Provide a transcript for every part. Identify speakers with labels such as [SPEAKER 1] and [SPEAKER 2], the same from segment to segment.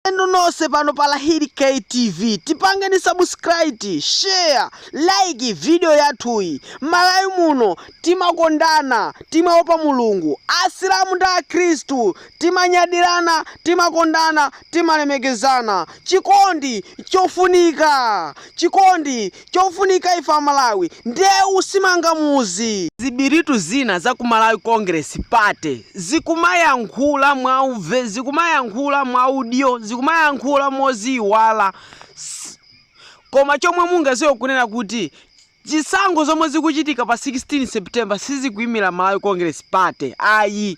[SPEAKER 1] Inu nonse pano pa Lahiri K TV tipangeni subscribe, share, like video yathuyi. Malawi muno timakondana, timaopa Mulungu. Asilamu ndi Akhristu timanyadirana, timakondana, timalemekezana. Chikondi chofunika, chikondi Chofunika ife a Malawi ndeu simanga muzi. Zibiritu zina za ku Malawi Congress Party zikumayankhula mwauve, zikumayankhula mwaudyo, zikumayankhula moziiwala koma chomwe mungaziwe kunena kuti zisankho zomwe zikuchitika pa 16 September sizikuimila Malawi Congress Party ayi.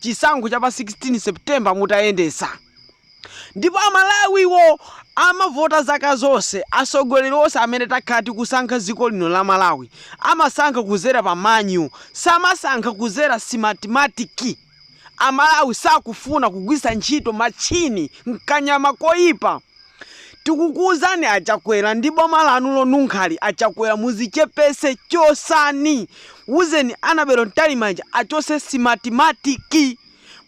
[SPEAKER 1] chisankho cha pa 16 September mutayendesa ndipo amalawiwo amavota zaka zonse asogoleri onse amene takhala tikusankha dziko lino la malawi amasankha kuzera pa manyu samasankha kuzera Smartmatic amalawi sakufuna kugwisa ntchito matchini nkanyama koyipa Tikukuuzani a Chakwera ndi boma lanu lonunkhali a Chakwera muzichepese chosani wuzeni Annabel Mtalimanja achose Smartmatic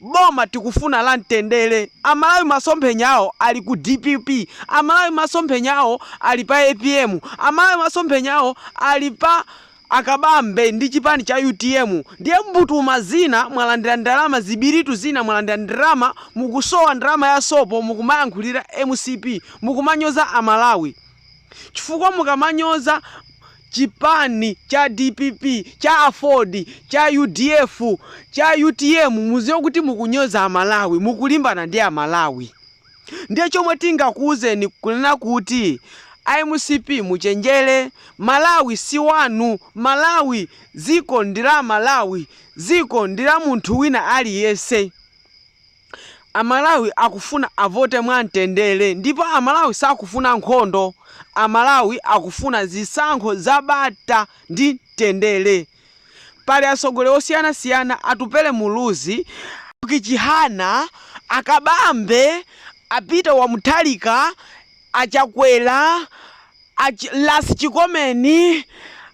[SPEAKER 1] boma tikufuna la mtendele amalawi masomphenya awo ali ku dpp amalawi masomphenya awo ali pa apm amalawi masomphenya awo ali pa A Kabambe ndi chipani cha utm ndiye mbutuma zina mwalandira ndalama zibiritu zina mwalandira ndalama mukusowa ndalama ya sopo mukumayankhulira mcp mukumanyoza a Malawi chifukwa mukamanyoza chipani cha dpp cha aford cha udf cha utm muziwe kuti mukunyoza a Malawi mukulimbana ndi a Malawi. Ndiye chomwe tingakuuzeni kunena kuti a mcp muchenjere Malawi si wanu Malawi dziko ndi la Amalawi dziko ndi la munthu wina aliyense Amalawi akufuna avote mwa mtendere ndipo Amalawi sakufuna nkhondo Amalawi akufuna zisankho za bata ndi mtendere. Pali atsogoleri osiyanasiyana Atupele Muluzi, Enock Chihana, a Kabambe, a Peter wa Mutharika, a Chakwera, a Ras Chikomeni,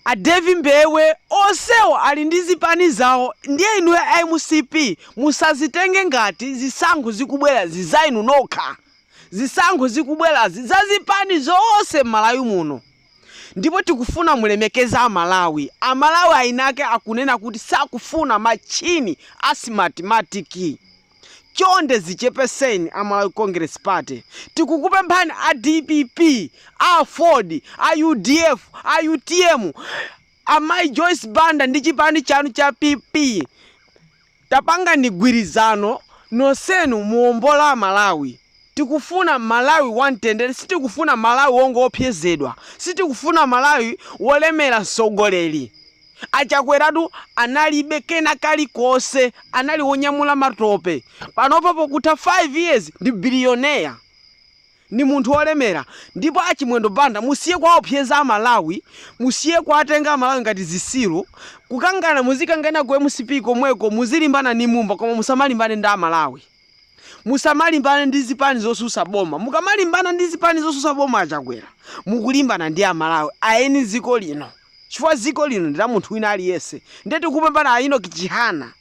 [SPEAKER 1] a Davie Mbewe onsewo ali ndi zipani zawo ndiye inuyo a mcp musazitenge ngati zisankho zikubwerazi za inu nokha. Zisankho zikubwerazi za zipani zonse m'Malawi muno. Ndipo tikufuna mulemekeze a Malawi. A Malawi enake akunena kuti sakufuna machini a Smartmatic. Chonde zichepeseni a Malawi Congress Party. Tikukupemphani a dpp, a aford, a udf, a utm, a Mayi Joyce Banda ndi chipani chanu cha PP. Tapangani gwirizano nonsenu muombola Malawi. Tikufuna Malawi wamtendere sitikufuna Malawi wongoopsezedwa sitikufuna Malawi wolemera mtsogoleri achakweratu analibe kena kalikonse anali wonyamula matope panopo pokutha 5 years ndi billionaire ndi munthu olemera ndipo a Chimwendo Banda musiye kuwaopseza a Malawi musiye kuwatenga a Malawi ngati zisiru kukangana muzikangana ku MCP komweko muzilimbana ndi Mumba koma musamalimbane ndi a Malawi musamalimbane ndi zipani zosusa boma mukamalimbana ndi zipani zosusa boma a Chakwera mukulimbana ndi a Malawi a eni ziko lino chifukwa ziko lino ndi la munthu wina aliyense nde tikupempha a Enock Chihana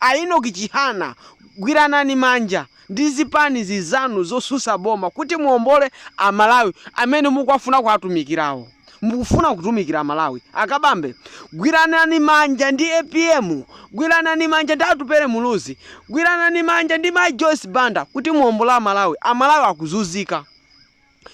[SPEAKER 1] A Enock Chihana, gwiranani manja ndi zipani zinzanu zotsutsa boma kuti muombole a Malawi amene mukuwafuna kuwatumikirawo. Mukufuna kutumikira a Malawi? A Kabambe, gwiranani manja ndi APM, gwiranani manja ndi Atupele Muluzi, gwiranani manja ndi Mayi Joyce Banda kuti muombole a Malawi. A Malawi akuzunzika.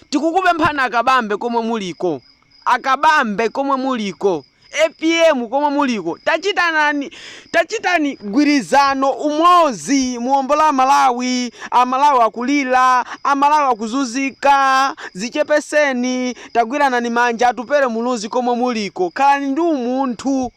[SPEAKER 1] Tikukupemphani a Kabambe komwe muliko, a Kabambe komwe muliko, APM komwe muliko tachitanani, tachitani gwirizano, umodzi, muombole a Malawi, a Malawi akulira, a Malawi akuzunzika, dzichepeseni, tagwiranani manja, Atupele Muluzi komwe muliko khalani ndi umunthu.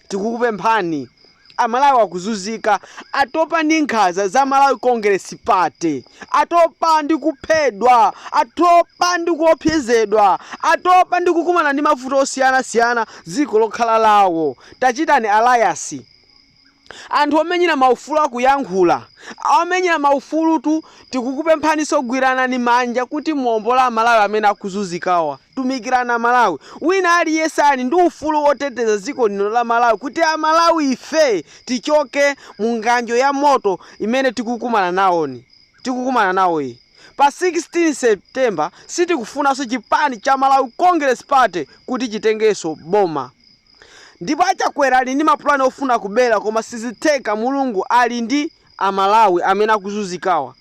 [SPEAKER 1] Tikukupemphani, Amalawi akuzunzika, atopa ndi nkhaza za Malawi Congress Party, atopa ndi kuphedwa, atopa ndi kuopsezedwa, atopa ndi kukumana ndi mavuto osiyanasiyana dziko lokhala lawo, tachitani alliance. Anthu omenyera maufulu akuyankhula, omenyera maufulutu, tikukupemphaniso gwiranani manja kuti muombole Amalawi amene akuzunzikawa. Tumikirani a Malawi. Wina aliyense ali ndi ufulu woteteza dziko lino la Malawi kuti a Malawife tichoke mu ng'anjo ya moto imene tikukumana nawoyi. Pa 16 September sitikufunanso chipani cha Malawi Congress Party kuti chitengenso boma. Ndipo a Chakwera ali ndi mapulani ofuna kubera koma sizitheka, Mulungu ali ndi a Malawi amene akuzunzikawa.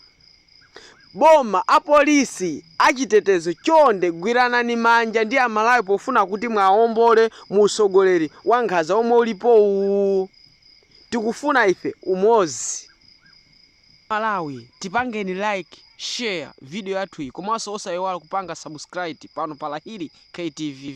[SPEAKER 1] Boma, apolisi, achitetezo chonde gwiranani manja ndi Amalawi pofuna kuti muawombole mu utsogoleri wankhanza womwe ulipowu. Tikufuna ife umodzi. Amalawi tipangeni like, share video yathuyi komanso osaiwala kupanga subscribe pano pa Lahiri K TV.